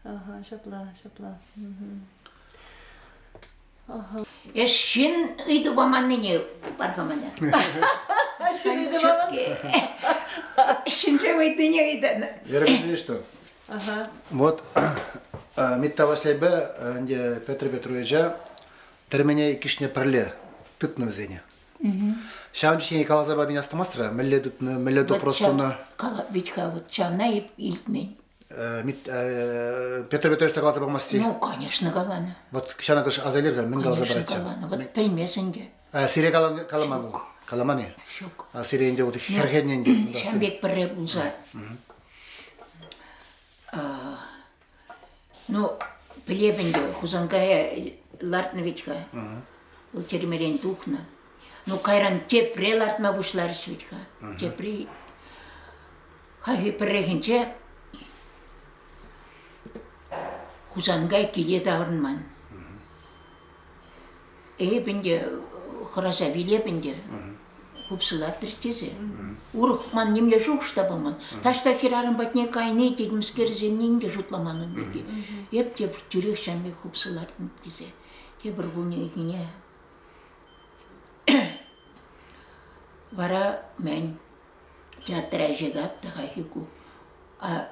Ҫапла, ҫапла. Эш ҫын ыйту паманнине пархамана. Ҫын ыйту паман. Ҫынсем ыйтнине ыйтаны. Ерекше что? Вот Митта Васлейпе ӗнтӗ Петр Петровича тӗрмене иккӗшне пӗрле тытнӑ вӗсене. Ҫавӑн ҫине каласа пани астумастра мӗнле тытнӑ, мӗнле допрос тунӑ? Вӗт-ха вот ҫавна эп илтмен. Петр Петрович та каласа памасти? Ну, конечно, каланӑ. Вот ҫавна кӑш аса илер-ха, мӗн каласа парать? Каланӑ. Вот пӗлмесен те. Сире каламан ул. Каламан-и? Ҫук. Сире ӗнтӗ вот хӗрхеннӗ ӗнтӗ. Ҫавӑн пек пӗрре пулса. Ну, пӗлеп ӗнтӗ, Хусанкая лартнӑ вӗт-ха. Вӑл тӗрмерен тухнӑ. Ну, кайран тепре лартма пуҫларӗҫ вӗт-ха. Тепри хайхи пӗррехинче Хусанкай киле таврӑнман. Эпӗ ӗнтӗ хӑраса вилеп ӗнтӗ. Хупсӑлатӑр тесе. Урӑх ман нимле шухӑш та пулман. Таҫта хӗрарӑм патне кайни тетӗмскерсеннен те шутламан ун пирки. Эп те тӳрех ҫам пек хупсӑлартӑм тесе. Тепӗр кунхине вара мӗн Театр ӗҫӗ капта хайхи ку. А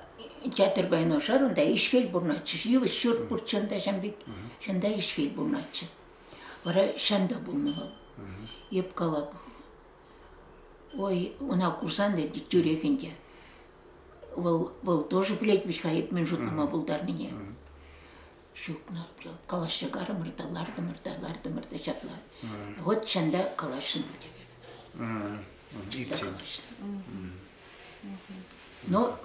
театр пайне ӑшар унта ишкел пурӑнатчӗ. Йывӑҫ ҫурт пур чӑн та ҫын пек. Чӑн та ишкел пурӑнатчӗ. Вара ҫан та пулнӑ вӑл. Эп калап. Ой, ӑна курсан та тӳрех ӗнтӗ. Вӑл, вӑл тоже пӗлет вӗт-ха эп мӗн шутлама пултарнине. Ҫутнӑ, калаҫрӗ карӑмӑр та, лартӑмӑр та, лартӑмӑр та ҫапла. Вот ҫанда калаҫрӑм тесе. Итти. калаҫрӑм. Но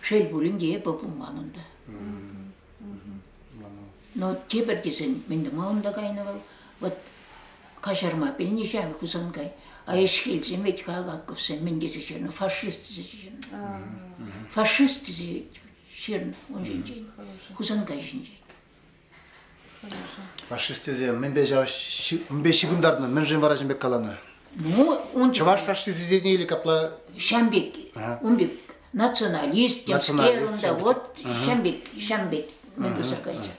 шел пулин те эпӗ пулман унта. Но тепӗр тесен мӗн тӑма унта кайнӑ вӑл? Вот каҫарма пӗлнӗҫем Хусанкай. А ӗҫкелсем ведь как Акковсем мӗн тесе ҫырнӑ? Фашист тесе ҫырнӑ. Фашист тесе фирма ун ҫинчен, Хусанкай ҫинчен. Фашистесем мӗнпе мӗнпе ҫыхӑнтартнӑ? Мӗншӗн вара ҫын пек каланӑ? Ну, ун чӑваш фашистисене или капла? Ҫам пек, ун пек националист, темскер унта вот ҫам пек, ҫам пек мӗн пырса кайса.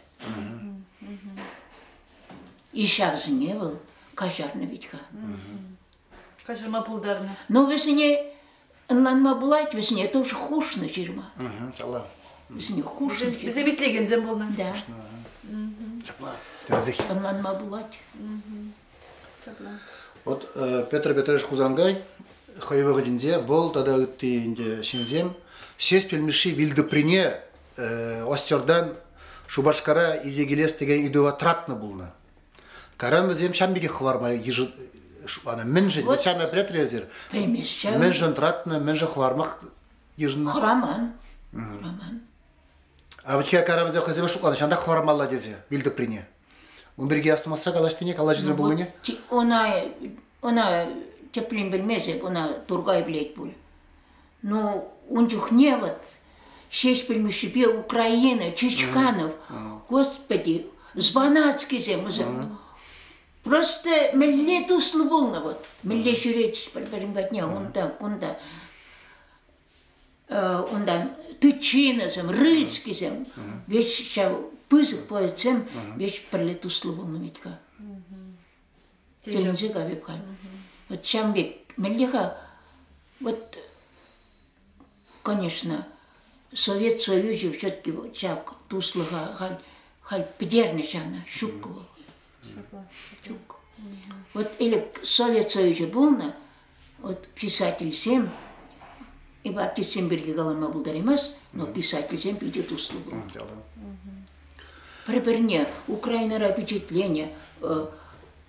И ҫавсене вӑл каҫарнӑ витка. Каҫарма пултарнӑ. Ну, вӗсене Ӑнланма пулать вӗсене тоже хушнӑ ҫырма. Вӗсене хушнӑ ҫырма. Вӗсем итлекенсем пулнӑ. Да. Ӑнланма пулать. Вот Петр Петрович Хусангай хӑй вӑхӑтӗнче вӑл тата ытти ӗнтӗ ҫынсем Шеспель Мишши Вилдуприне Остердан Шупашкара исе килес текен ыйтӑва тратнӑ пулнӑ. Кайран вӗсем ҫам пекех хӑварма йышӑннӑ. Мӗншӗн? Вот ҫам пӗлетлӗ эсир. Пӗлмест ҫам. Мӗншӗн тӑратнӑ, мӗншӗн хӑвармах йышӑннӑ? Хӑраман. Хӑраман. А вот Карамзев хӑйсене шутланӑ, ҫантах хӑвармалла тесе вилтӑприне. Ун пирки астумастра калаҫнине, калаҫусӑр ну, пулнине? Ӑна, ӑна теприн білмесе, ӑна Тургай билет пуль. Ну, ун чухне вот Ҫеҫпӗл Мишшипе Украина, Чичканов, господи, Звонацкисем вӗсем. Просто мӗнле туслӑ пулнӑ вот. Мӗнле ҫӳретчӗҫ пӗр-пӗрин патне унта, кунта. Унтан Тычиносем, Рыльскисем. Ведь ҫав пысӑк поэтсем ведь пӗрле туслӑ пулнӑ ведь-ха. Тӗлӗнче капек халь. Вот ҫам пек мӗнле-ха вот, конечно, Совет Союзӗ все-таки ҫак туслӑха халь, халь пӗтернӗ ҫавна, ҫуккӑ вӑл. Ҫук. Вот ӗлӗк Совет Союзӗ пулнӑ, Вот писательсем, ипотечсем пирки калама пултараймасть, но писательсем питӗ туслӑ пулать. Пӗр-пӗрне Украинӑра пичетленӗ,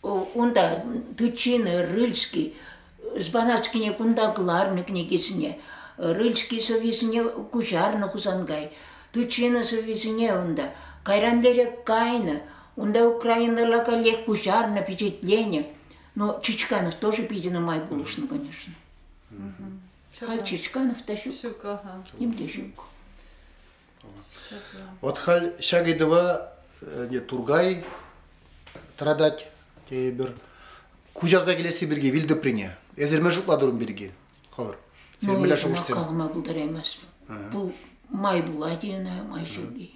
унта Тычины, Рыльский, Збанатскине кунта кӑларнӑ кӗнекесене, Рыльский сӑввисене куҫарнӑ Хусанкай, Тычина сӑввисене унта, кайран лере кайнӑ, унта Украинӑра каллех куҫарнӑ, пичетленӗ. Но Чичканов тоже питӗ нумай пулӑшнӑ, конечно. Халь Чичканов та ҫук. Ҫук, ага. Ним те ҫук. Вот халь ҫак ыйтӑва не Тургай тӑратать тейӗпӗр. Куҫарса килесси пирки вилтӑприне. Эсир мӗн шутла турӑн пирки? Хӑвӑр. Сен мӗнле шухӑш калама пултараймасть. Бұл май пулать-и ӑна, май ҫук-и.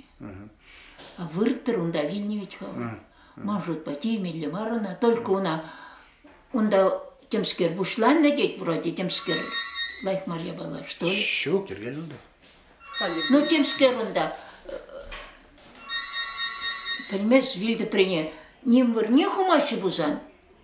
Вырттӑр унта вилнӗ ведь хӑвӑр. Маршрутпа тимелле мар ӑна, только ӑна унта темскер пуҫланнӑ тет вроде темскер лайк мар япала что ли? Ҫук йӗркен унта. Ну темскер унта пӗлмес вилтӗпрене ним вырне хумаҫҫӗ пулсан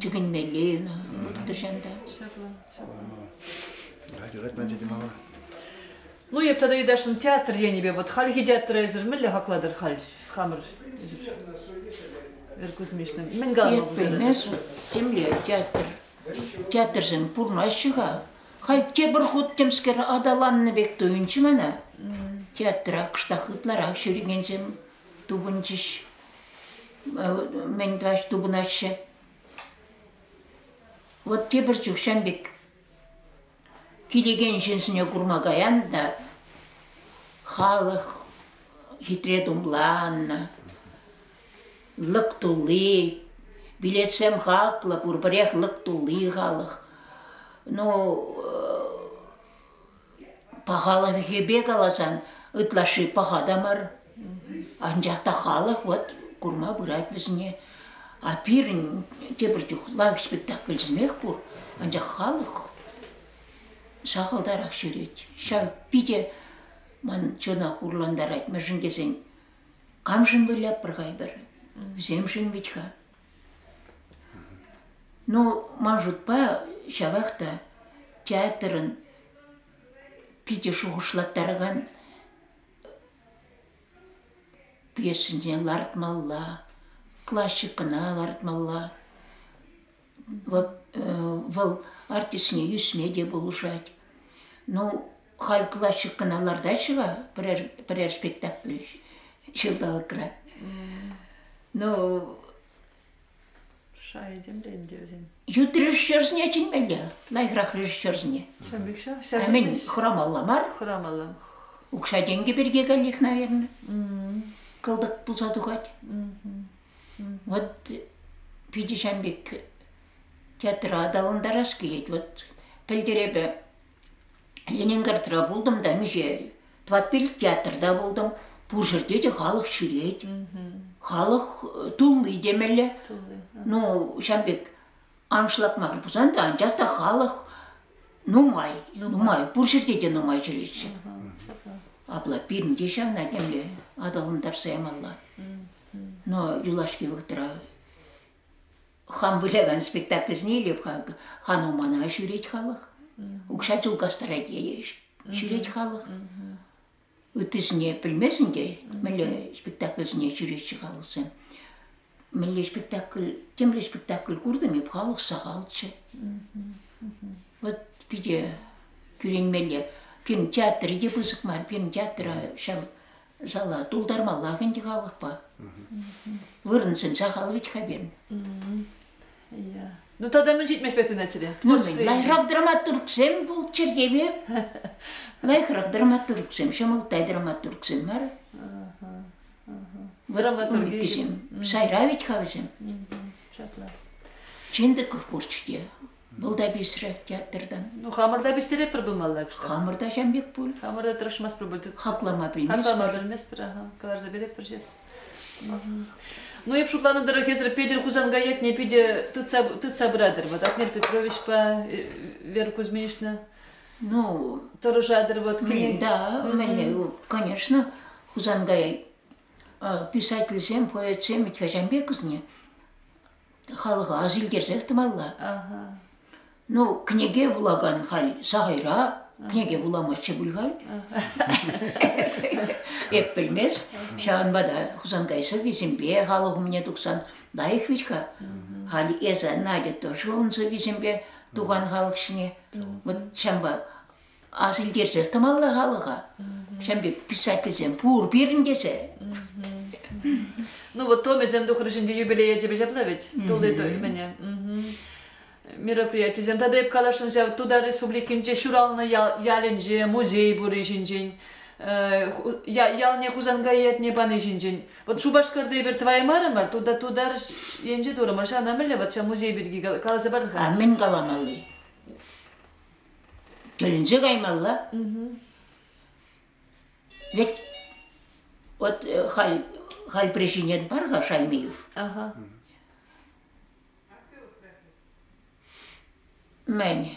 Тӗкӗнмелле ӑна вырттӑрҫан та. Юрать ман сӗтӗм ава. Ну, эп тата Йыташӑн театр енӗпе вот хальхи театра эсир мӗнле хаклатӑр халь хамӑр эсир Эркузмишна мӗн калма пултарать? Пӗлмесӗр темле театр театрсем пурнаҫҫӗ-ха. Халь тепӗр хут темскер аталаннӑ пек туйӑнчӗ мана. Театра кӑштах ытларах ҫӳрекенсем тупӑнчӗҫ. Мӗн тӑваҫ тупӑнаҫҫӗ. Вот тепӗр чух ҫан пек килекен ҫынсене курма каян та халӑх хитре тумланнӑ, лӑк тулли, билетсем хаклӑ, пурпӗрех лӑк тулли халӑх. Ну, Пахалӑхӗпе каласан ытлашши паха та мар. Анчах та халӑх вот курма пырать вӗсене. А пирӗн тепӗр чух лайӑх спектакль сӗмех пур, анчах халӑх сахалтарах ҫӳрет. Ҫав питӗ ман чунах хурлантарать, мӗншӗн тесен камшӑн выляппӑр-ха эпир? Вӗсемшӗн вӗт-ха. Ну, ман шутпа, ҫавах та театрӑн питӗ шухӑшлаттаракан пьесинчен лартмалла, классикӑна лартмалла. Вӑл артистсене ӳсме те пулӑшать. Ну, Халь классикӑна лартаҫҫӗ-ха пӗрер, пӗрер спектакль ҫулталӑкра. Ну, Шай темрен те вӗсен. ют режиссерсене чӗнмелле, лайӑхрах режиссерсене. Ҫавӑн пек ҫав. Ҫав Аймин хӑрамалла мар, хӑрамалла. укҫа-тенкӗ пирки каллех, наверное, кӑлтӑк пулса тухать. Вот питӗ ҫан пек театра аталантарас килет. Вот пӗлтерепе Ленинградра пултӑм та миҫе тӑватпиллӗк театрта пултӑм. Пур ҫӗрте те халӑх ҫӳрет. Халӑх тулли темелле. Ну, ҫавӑн пек аншлакмасӑр пулсан та, анчах та халӑх нумай, нумай. Пур ҫӗрте те нумай ҫӳреҫҫӗ. Апла пирӗн те ҫавна темле аталантарса ямалла. Но юлашки вӑхӑтра Хам вылякан спектакль снилев-ха, хано мана ҫӳрет халӑх. Укҫа чул кастарать ҫӳрет халӑх. Ыттисене пӗлмесен те мӗнле спектакльсене ҫӳретчӗ халӑхсем. Мӗнле спектакль, темле спектакль куртӑм эп, халӑх сахалччӗ. Вот питӗ кӳренмелле. Пирӗн театрӗ те пысӑк мар, пирӗн театра ҫав Мысалы, тулдармаллах ӗнтӗ халӑхпа. Вырӑншӑн сахал вӗт-ха пирӗн. Ну тата мӗн ҫитмеш пек тунасире? Ну мӗн, лайӑхрах драматургсем пулччӑр теме. Лайӑхрах драматургсем, ҫӑмӑлттай драматургсем мар. Драматургисем. Сайра вӗт-ха вӗсем. Чындыков пурччӗ те. Был да писрӗ театрдан. Ну, хамӑрта пистеретпӗр пулмалла кушта. Хамӑрта ҫам пек пуль. Хамӑрта тӑрӑшмасть пуль. Хаклама пӗлместпӗр. Хаклама пӗлместпӗр, аха. Каларса беретпӗр ҫес. Ну, эп шутланӑ тӑрӑх, эсир Петӗр Хусанка ятне питӗ тытса, тытса пыратӑр. Вот Атнер Петровичпа э, Вера Кузьминична. Ну, тӑрӑшатӑр вот. Кӗнек... Да, мӗнле, конечно, Хусанкая писательсем, поэтсем, ведь хачан пек кызне. халӑха ҫилкерсех тӑмалла. Ну, кӗнеке вулакан халь сахайра кӗнеке вуламастчӗ пуль халь. Эп пӗлмес. Ҫавӑнпа та Хусанкай сӑввисемпе халӑх умне тухсан лайӑх вӗт-ха. Халь эсӗ, Надя, тоже ун сӑввисемпе тухан халӑх ҫине. Вот ҫавӑнпа ас илтерсех тӑмалла халӑха. Ҫын пек писательсем пур пирӗн тесе. Ну вот томӗсем тухрӗҫ ӗнтӗ юбилее ячӗпе ҫапла вӗт. Тулли тоймене. Мероприятисем тата эп каласшӑн ҫав Тутар Республикинче ҫуралнӑ ял ялӗнче музей пурри ҫинчен ялне Хусанкай ятне пани ҫинчен. Вот Шупашкарта эпир тӑваймарӑмӑр, туда тутар енче турӑмӑр. Ҫавна мӗнле вот ҫав музей пирки каласа пар-ха? А мӗн каламалли? Мӗнӗнче каймалла? Ведь вот э, халь, халь причинет бар-ха Шаймиев. Ага. Мӗн?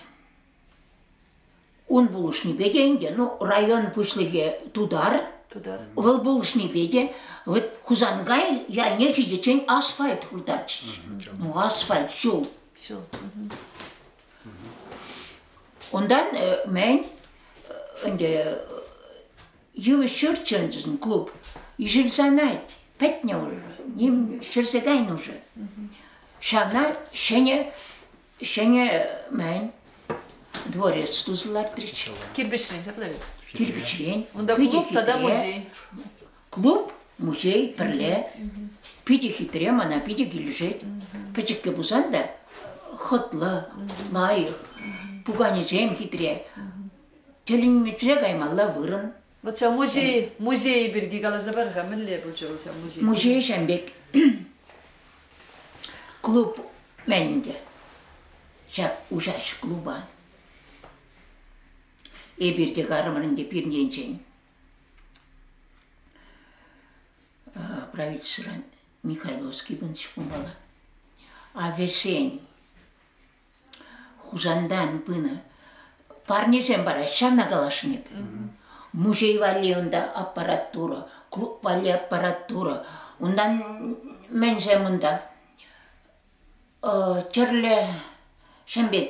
Ун пулӑшнипе те ӗнтӗ, ну, район пуҫлӑхӗ тутар, тутар. Вӑл пулӑшнипе те вот Хусанкай ялне ҫитиччен асфальт хуртатчӗҫ. Ну, асфальт ҫул. Ҫул. Унтан мӗн ӗнтӗ йывӑҫ ҫурчӗшӗн клуб ишӗлсанать, пӗтнӗ уже, ним ҫӗрсе кайнӑ уже. Ҫавна ҫӗнӗ, ҫӗнӗ мӗн дворец туса лартрӗҫ. Кирпӗчрен ҫакна вӗт. Кирпӗчрен. Унта клуб тата музей. Клуб, музей пӗрле. Питӗ хитре, мана питӗ килӗшет. Пӗчӗккӗ пулсан та хӑтлӑ, лайӑх. Пуканесем хитре. Тӗлӗнмӗтре каймалла вырӑн. Вот ҫав музей, музей пирки каласа пар-ха, мӗнле пулчӗ вӑл ҫав музей? Музей ҫан пек клуб мен ӗнтӗ ҫак уҫаҫ клуба. Эпир те карӑмӑр ӗнтӗ пирӗн енчен. правительствӑран Михайловский пынӑ ҫукмалла. А вӗсен Хусантан пынӑ парнесем параҫҫӗ, ҫавна каласшӑн эп. Музей валли унта аппаратура, клуб валли аппаратура. Унтан мӗнсем унта? Тӗрлӗ ҫын пек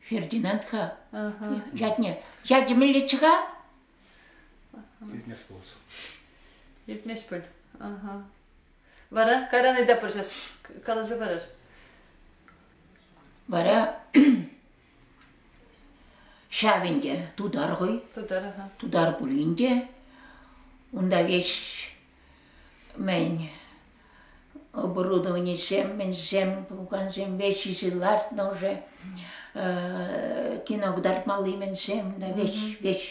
Фердинанд-ха. Ятне. Ятӗ мӗнлеччӗ-ха? Иртмес пулас. Иртмес пуль. Ага. Вара кайран ыйта пырчас. Каласа парар. Вара ҫав ӗнтӗ тутар хӑй. Тутар, ага. Тутар пулин те унта веҫ Мӗн оборудованисем мӗнсем пукансемпе ҫисе лартнӑ уже кино кӑтартмалли мӗнсем веҫ-веҫ.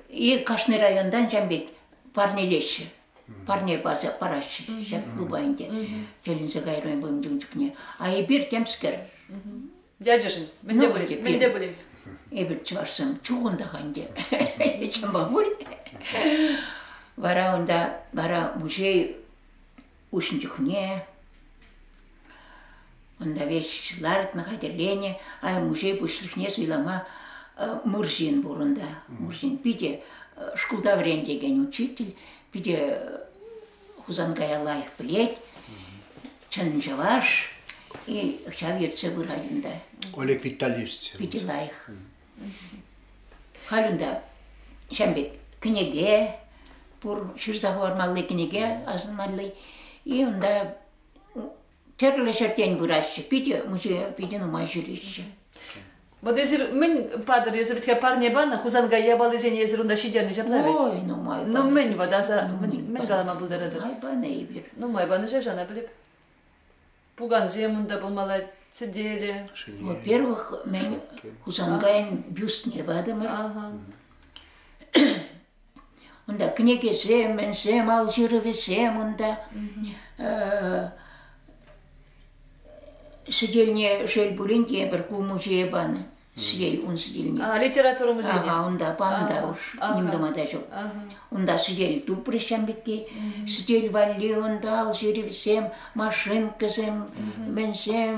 И кашни районтан ҫав пек парнелеҫҫӗ. Парне парса параҫҫӗ ҫак клуба ӗнтӗ. Тӗлӗнсе кайрӑм эпӗ ун чухне. А эпир темскер. Ячӗшӗн. Мӗн те пулин, мӗн те пулин. Эпир чӑвашсем чухӑнтах ӗнтӗ. Чӑнпа пуль. Вара унта, вара музей уҫнӑ чухне унта вещи лартнӑ хатӗрленӗ, ай музей пуҫлӑхне суйлама Мурзин пур унта. Мурзин питӗ шкулта вӗрентекен учитель, питӗ Хусанкая лайӑх пӗлет, чӑн чӑваш, и ҫав ертсе пырать унта. Олег Витальевич. Питӗ лайӑх. Халь унта ҫав пек кӗнеке пур, ҫырса хӑвармалли кӗнеке асӑнмалли, и унта тӗрлӗ ҫӗртен пыраҫҫӗ. Питӗ музея питӗ нумай ҫӳреҫҫӗ. Вот эсир мӗн патӑр, эсир ведь парне панӑ, Хусанкай япалисене эсир унта ҫитернӗ ҫапла ведь? Ой, нумай панӑ. Ну мӗн вот, аса, мӗн калама пултаратӑр? Нумай панӑ эпир. Нумай панӑ ҫав, шана пӗлеп. Пукансем унта пулмалла, сӗтеле. Во-первых, мен Хусанкайӑн бюстне патӑмӑр. Унта кӗнекесем, мӗнсем, ал ҫырӑвӗсем унта. Сӗтелне шел пулин те пӗр ку музее панӑ. Сӗтел ун сӗтелне. Литература музейне. Ага, унта панӑ та уж. Ним тума та ҫук. Унта сӗтел тупрӗҫ ҫам пекки. Сӗтел валли унта ал ҫырӑвӗсем, машинкӑсем, мӗнсем.